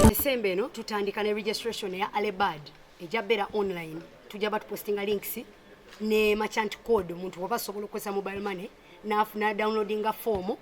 December eno tutandika ne registration ya Alebad eja bera online tujja batu postinga links ne merchant code omuntu waba sobola okozesa mobile money nafuna downloadinga form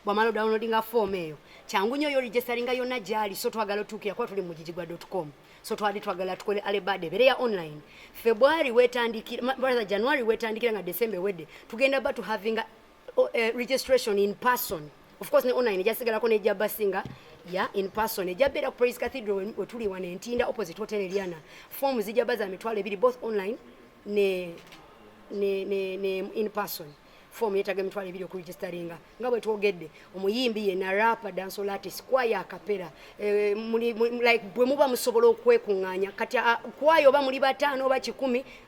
bwamala downloadinga form eyo kyangu nyo yo registeringa yona jali so twagala otuukira kuba tuli mugigigwa.com so twali twagala tukole alebad ebere ya online february wetandikira brother january wetandikira nga december wedde tugenda batu havinga oh, uh, registration in person of course ne online ejasigalako nejja basinga ya in person ejja beera ku praise cathedral wetuli wana entinda opposite hotel eliana form zijja baza mitwalo ebiri both online ne, ne, ne, ne in person form yetaga emitwalo ebiri okuregisteringa nga bwe twogedde omuyimbi yena rapa dansol artist kwaya akapera eh, like bwe muba musobola okwekunganya kati ah, kwaya oba muli bataano oba kikumi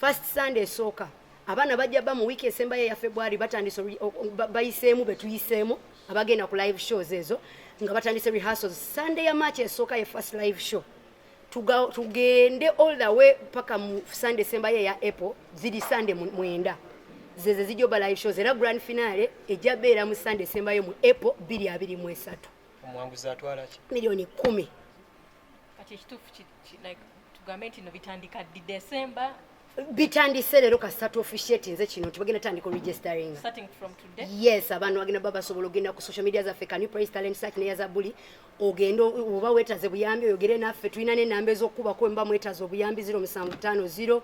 first sunday esooka abaana bajja ba mu wiiki esembayo eya february batandise bayiseemu betuyiseemu abagenda ku live shows ezo nga batandise rehearsals sunday ya march esooka ye first live show tugende all the way paka mu sunday esembayo eya apple ziri sunday mwenda zeze zijja oba live shows era grand finale ejja beera mu sunday esembayo mu apple biri abiri mu esatu omwanguzi atwala ki miliyoni kumi kati ekituufu kiri like tugambe nti no bitandika di December bitandise leero kasita tuofficiate nze kino nti bagenda tandika registering yes abantu bagenda baba basobola ogenda ku social media zaffe can you praise talent search neya zabuli ogenda oba wetaze buyambi oyogere naffe tulina nenamba ezokukubako mba mwetaze obuyambi 0750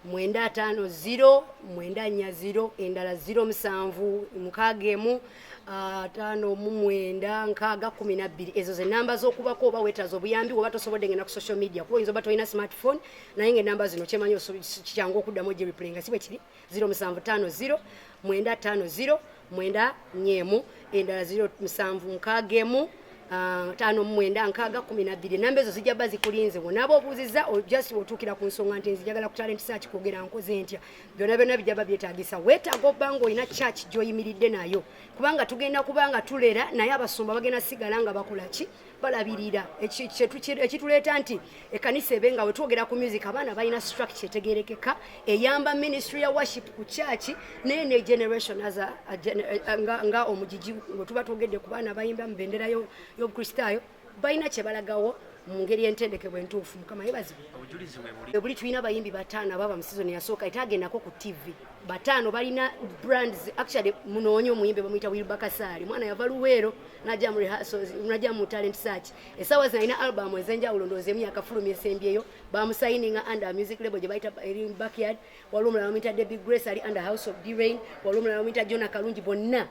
950 940 endala 07 mukagemu 9 ataano mu mwenda nkaaga kumi nabbiri ezo ze namba z'okubako oba wetaaza obuyambi oba tosobodde ngenda ku social media kuba oyinza oba tolina smartphone naye nga enamba zino kyemanyi kikyangu okuddamu ojerepulenga si bwe kiri ziro musanvu taano ziro mwenda taano ziro mwenda nyeemu endala ziro musanvu nkaaga emu Ah, tano mwenda nkaga kumi na bbiri namba ezo zijja ba zikulinze wonaaba obuuziza just otuukira ku nsonga nti nzijagala ku talent search kwogera nkoze ntya byona byona bijaba byetagisa wetaga oba nga olina church gyoyimiridde nayo kubanga tugenda kubanga tulera naye abasumba bagenda sigala nga bakola ki balabirira ekituleeta nti ekanisa ebe nga wetwogera ku music abaana balina structure etegerekeka eyamba ministry ya worship ku church naye ne generation as a, a, a, nga, nga omugigi wetuba twogedde ku baana bayimba mu bendera y'obukristaayo yo, balina kyebalagawo mu ngeri entendekebwe entuufu mukama yebazibwe buli tulina bayimbi bataano ababa mu sizoni yasooka ate agendako ku tv bataano balina brands actually munoonye omuyimbi bamuyita wilba kasaali mwana yava luweero naja mu rehearsals naja mu talent search esaawa zina alina album ezenjawulo ndowooza emu yakafulumya esembyeyo bamusayininga under music label gye bayita eri backyard waliwo omulala bamuyita debbie grace ali under house of d rain waliwo omulala bamuyita jona kalungi bonna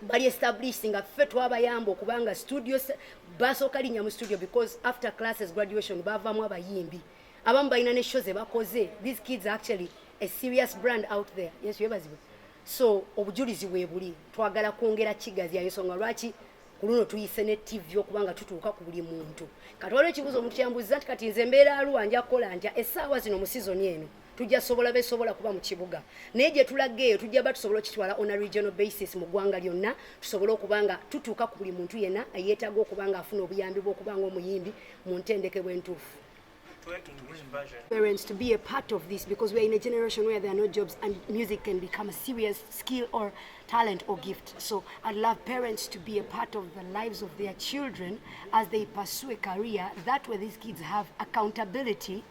bali established nga ffe twabayamba okubanga studio basooka linnya mu studio because after classes graduation baavaamu abayimbi abamu balina ne show ze bakoze these kids actually a serious brand out there yesu yebazibwe so obujulizi weebuli twagala kwongera kigazi yayo songa lwaki ku luno tuyise ne tv okubanga tutuuka ku buli muntu katwaliwo ekibuuzo omuntu kyambuziza nti kati nze mbeera aluwa nja kukola ntya essaawa zino mu sizoni eno tujja sobola besobola kuba mu kibuga naye gye tulaga eyo tujja ba tusobola okitwala on a regional basis mu ggwanga lyonna tusobola okuba nga tutuuka ku buli muntu yenna eyeetaaga okuba nga afuna obuyambi bw'okuba nga omuyimbi mu ntendekebwa entuufu parents to be a part of this because we are in a generation where there are no jobs and music can become a serious skill or talent or gift. So I'd love parents to be a part of the lives of their children as they pursue a career. That way these kids have accountability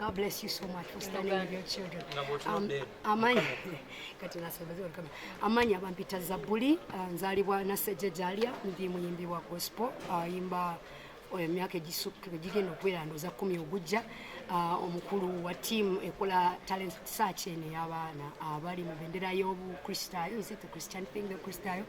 God bless you so much for standing with your children. Um, amanya kati nasembezewa kama amanya bampita Zabuli uh, nzalibwa na seje jalia ndi muyimbi wa gospel uh, imba uh, emyaka egisukka gigenda okubeera ndoza kumi ogujja uh, omukulu wa tiimu ekola talent search eno ey'abaana abali uh, mu bendera y'obukristaayo is it the christian thing the kristaayo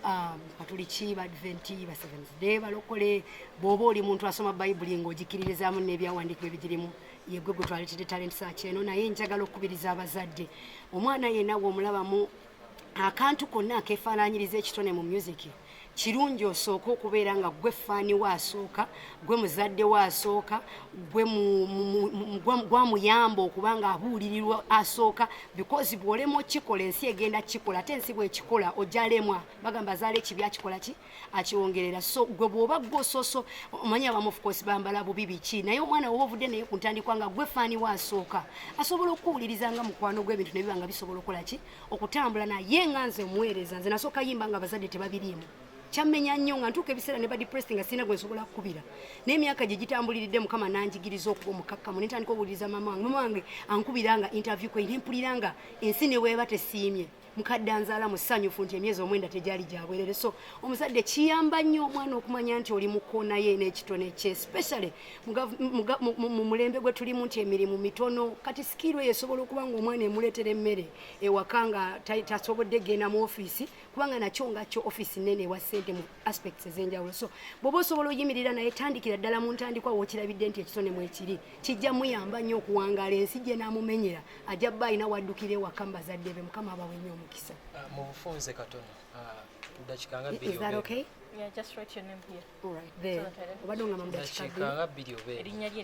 um, katuliki badventi baseventh day balokole bw'oba oli muntu asoma bayibuli ng'ogikiririzaamu n'ebyawandiikibwa ebigirimu yegwe gwe twaleetedde talenti saaki eno naye njagala okukubiriza abazadde omwana yenna w'omulabamu akantu konna akeefaananyiriza ekitone mu myuziki kirungi osooka okubeera nga gwe faani we asooka gwe muzadde we asooka gwamuyamba okuba nga abuulirirwa asooka bikozi bwolema okikola ensi egenda kikola ate ensi bwekikola ojalemwa bagamba azaala ekibi akikola ki akiwongerera so gwe bwoba gwe ososo omanya abamu of course bambala bubi biki naye omwana woba ovudde naye ku ntandikwa nga gwe faani we asooka asobola okuwuliriza nga mukwano gw'ebintu ne biba nga bisobola okukola ki okutambula naye nga nze omuweereza nze nasooka yimba nga abazadde tebabiriimu kyammenya nnyo nga ntuuka ebiseera ne badepressed nga sirina gwe nsobola kukubira naye emyaka gye gitambuliridde mukama nanjigiriza okuba omukakkamu ne ntandika okuwuliriza maama wange maama wange ankubira nga interview kwe ne mpulira nga ensi ne bweba tesiimye mukadde anzaala musanyufu nti emyezi omwenda tegyali gyabwerere so omuzadde kiyamba nnyo omwana okumanya nti oli mukonaye n'ekitone kye especially mu mulembe gwe tulimu nti emirimu mitono kati sikiirwe yesobola okuba nga omwana emuleetera emmere ewaka nga tasobodde genda mu ofiisi kubanga nakyo nga kyo ofiisi nene ewa ssente mu aspects ez'enjawulo so bwoba osobola oyimirira naye tandikira ddala mu ntandikwa wookirabidde nti ekitone mwekiri kijja muyamba nnyo okuwangaala ensi gye naamumenyera ajja bba alina waddukira ewaka mu bazadde be mukama abawe nnyo omukisa ah, mu bufunze katono ah, dakikanga bbiri obeerinnya lye